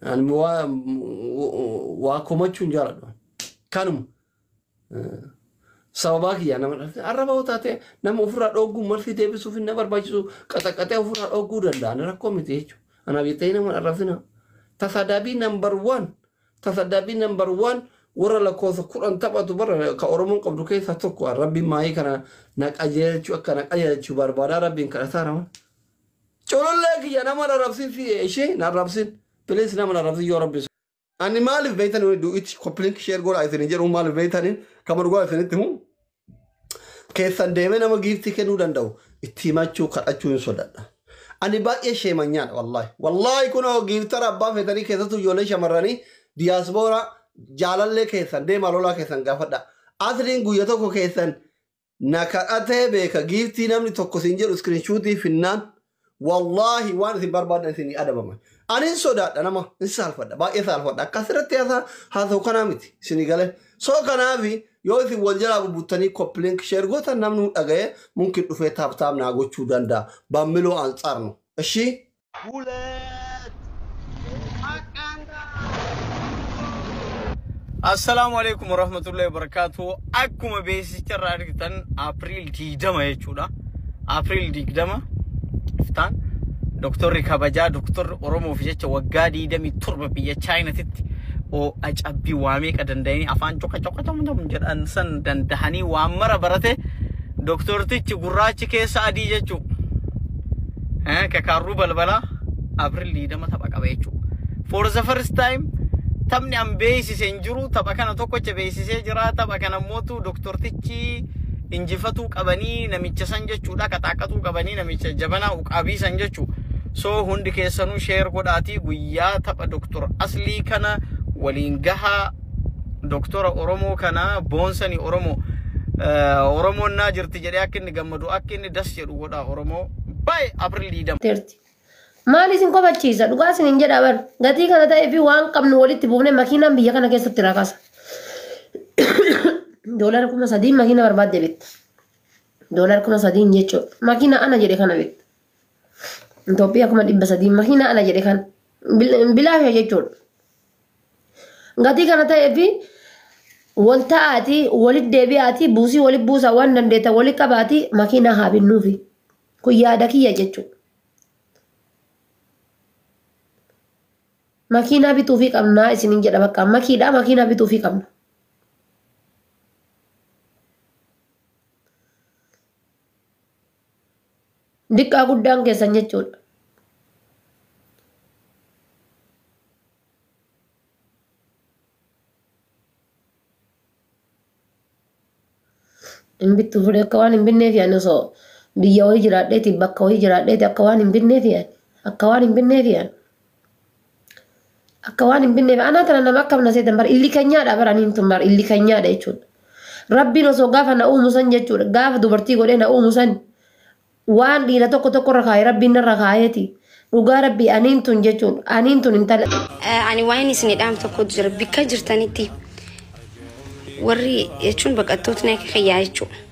Ani waa waa komachuu hin jaaladhu. Kanuma eh, sababaa kiyyaa nama dhalate arraba yoo taate nama ofirraa dhogguu malti deebisuuf hin na barbaachisu qaxaqaxee ofirraa dhogguu danda'a ani rakkoo miti jechuudha. Anaaf jettee nama hin arrabsina. Tasadaabii nambar waan tasadaabii nambar waan warra lakkoofsa kudhan taphatu bara ka Oromoon qabdu keessaa tokko rabbiin maayii kana na qajeelchu akka na qajeelchu barbaadaa rabbiin kadhataa raman. Culullee kiyya nama narabsin siye ishi narabsin please nama narabsin yoo rabbi Ani maalif beeytan du it koplink share godha isin jedhu maalif beeytani kama dhugaa isinitti himu keessan deemee nama giiftii kennuu danda'u itti himachuu kadhachuu hin sodadha. Ani baay'ee sheemanyaadha wallaahi. Wallaahi kunoo giiftara abbaa feetanii keessattuu ijoollee shamarranii diyaasbooraa jaalallee keessan deemaa lolaa keessan gaafadha. Asliin guyya tokko keessan Na kadhatee beeka giiftii namni tokko siin jedhu iskirinshuutii finnaan wallaahi waan isin barbaaddan isinii adabaman. Ani hin sodaadha nama hin saalfadha baay'ee saalfadha akka asirratti haasaa haasa'u kanaa miti isinii galee. So kanaafi yoo isin wal jalaa bubbuttanii koppilink sheer gootan namni dhaga'ee mumkin dhufee taap taap naa gochuu danda'a. Bammiloo Ansaar no. Eshii. ሁለት Assalaamu alaikum warahmatullahi wabarakatuh. Akkuma beeksicha irraa argitan April 20 jechuudha. April 20 iftaan doktorri kabajaa doktorri Oromoof jecha waggaa 27 biyya Chaayinatitti oo'a cabbii waa meeqa danda'anii afaan coqa coqa tom tom jedhan san dandahanii waan mara barate doktortichi gurraachi keessa adii jechuudha. Kakaarruu balbalaa April 20 tapha qaba jechuudha. For the first time taphni an beeksise hin jiru tapha kana tokkocha beeksisee jira tapha kana immootu doktortichi injifatuu qabanii namicha san jechuudha qaxaaqatuu qabanii namicha jabanaa uqaabii san jechuu so hundi keessanuu sheer godhaatii guyyaa tapha doktor aslii kana waliin gahaa doktora oromoo kana boonsanii oromoo oromoon naa jirti jedhee akka inni gammadu akka inni das jedhu nu godhaa Oromoo by April 20. terti. Maal isin kofachiisa? Dhugaa isin hin jedha bar. Gatii kana ta'ee fi waan qabnu walitti buufne makiinaan biyya kana keessatti rakasa. Doolara kuma sadiin makiina barbaadde bitta. Doolara kuma sadiin jechuudha. Makiina ana jedhe kana bitta. Itoophiyaa kuma dhibba sadiin makiina ana jedhe kana. Bil- Bilaasha jechuudha. Gatii kana ta'ee fi wal ta'aatii walit deebi'aatii buusii walit buusaa waan dandeettan walit qabaatii makiinaa haa binnuufi. Kun yaada kiyya jechuudha. Makiinaa bituufii qabnaa isiniin jedha bakka makiidhaa makiinaa bituufii qabna. Diqqaa guddaan keessan jechuudha. Hin bittu fudhe akka waan hin binneef yaani osoo biyya wayii jiraadheeti bakka wayii jiraadheeti akka waan hin binneef yaani akka waan hin binneef yaani. Akka waan hin binneef anaa tana nama akkam na seetan bar illi kanyaadha bar aniin tun bar illi kanyaadha jechuudha. Rabbiin osoo gaafa na uumu san jechuudha gaafa dubartii godhee na uumu san waan dhiira tokko tokko irra kaa'e rabbiin narra kaa'eeti dhugaa rabbii aniin tun jechuudha aniin tun intala. Ani waa'een isin dhaam tokkotu jira bikka jirtanitti warri jechuun baqattootni akka kiyyaa jechuudha.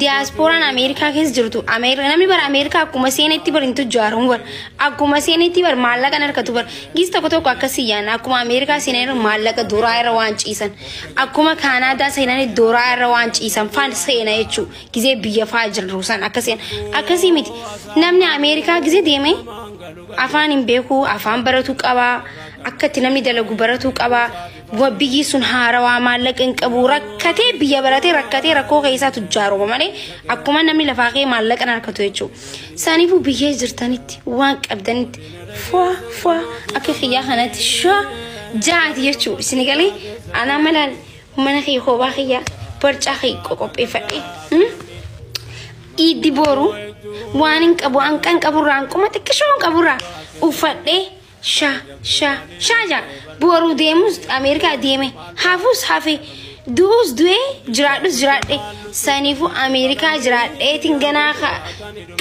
diyaaspooraan Ameerikaa keessa jirtu Ameerikaa namni bara Ameerikaa akkuma seenetti bara hin tujjaaru bara akkuma seenetti bara maallaqa hin harkatu bara gis tokko tokko akkasii yaana akkuma Ameerikaa seenan maallaqa duraa irra waan ciisan akkuma Kaanaadaa seenan duraa irra waan ciisan faan seena jechuu gizee biyya faa jirru san akkasii akkasii miti namni Ameerikaa gizee deemee afaan hin beeku afaan baratu qaba akka itti namni dalagu baratu qaba. Wabbiyyi sun haarawaa maallaqa hin qabu rakkatee biyya baratee rakkatee rakkoo keessaa tujjaaruma malee akkuma namni lafaa kee maallaqa hin harkatu jechuudha. Isaaniifuu biyya jirtanitti waan qabdanitti fua fua akka kiyyaa kanatti shaa jaati jechuudha. Isin galee anaa malaan mana kee koobaa kiyyaa barcaa kee qopheeffadhee. Iiddi boru waan hin qabu hanqan qaburraa hanquma xiqqishoon qaburraa uffadhee. sha sha sha ja boru deemus ameerikaa deeme hafus hafe du'us du'ee jiraadhus jiraadhe saniifu ameerikaa jiraadheetiin ganaa ka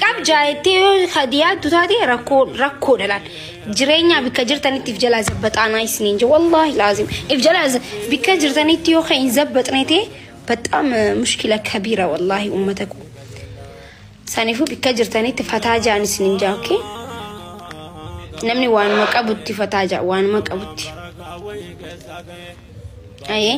qab jaayettee yoo ka diyaattu taate rakkoo rakkoo dhalaan jireenyaa bikka jirtanitti if jalaa zabbaxaanaa isiniin je wallaahi laazim if jalaa za- bikka jirtanitti yoo ka hin zabbaxnete baxaam mushkila kabiira wallaahi ummata koo Sanifu bikka jirtanitti fataa ja'an isinin ja'a okay? Namni waanuma qabutti fataa ja'a waanuma qabutti. Ayee.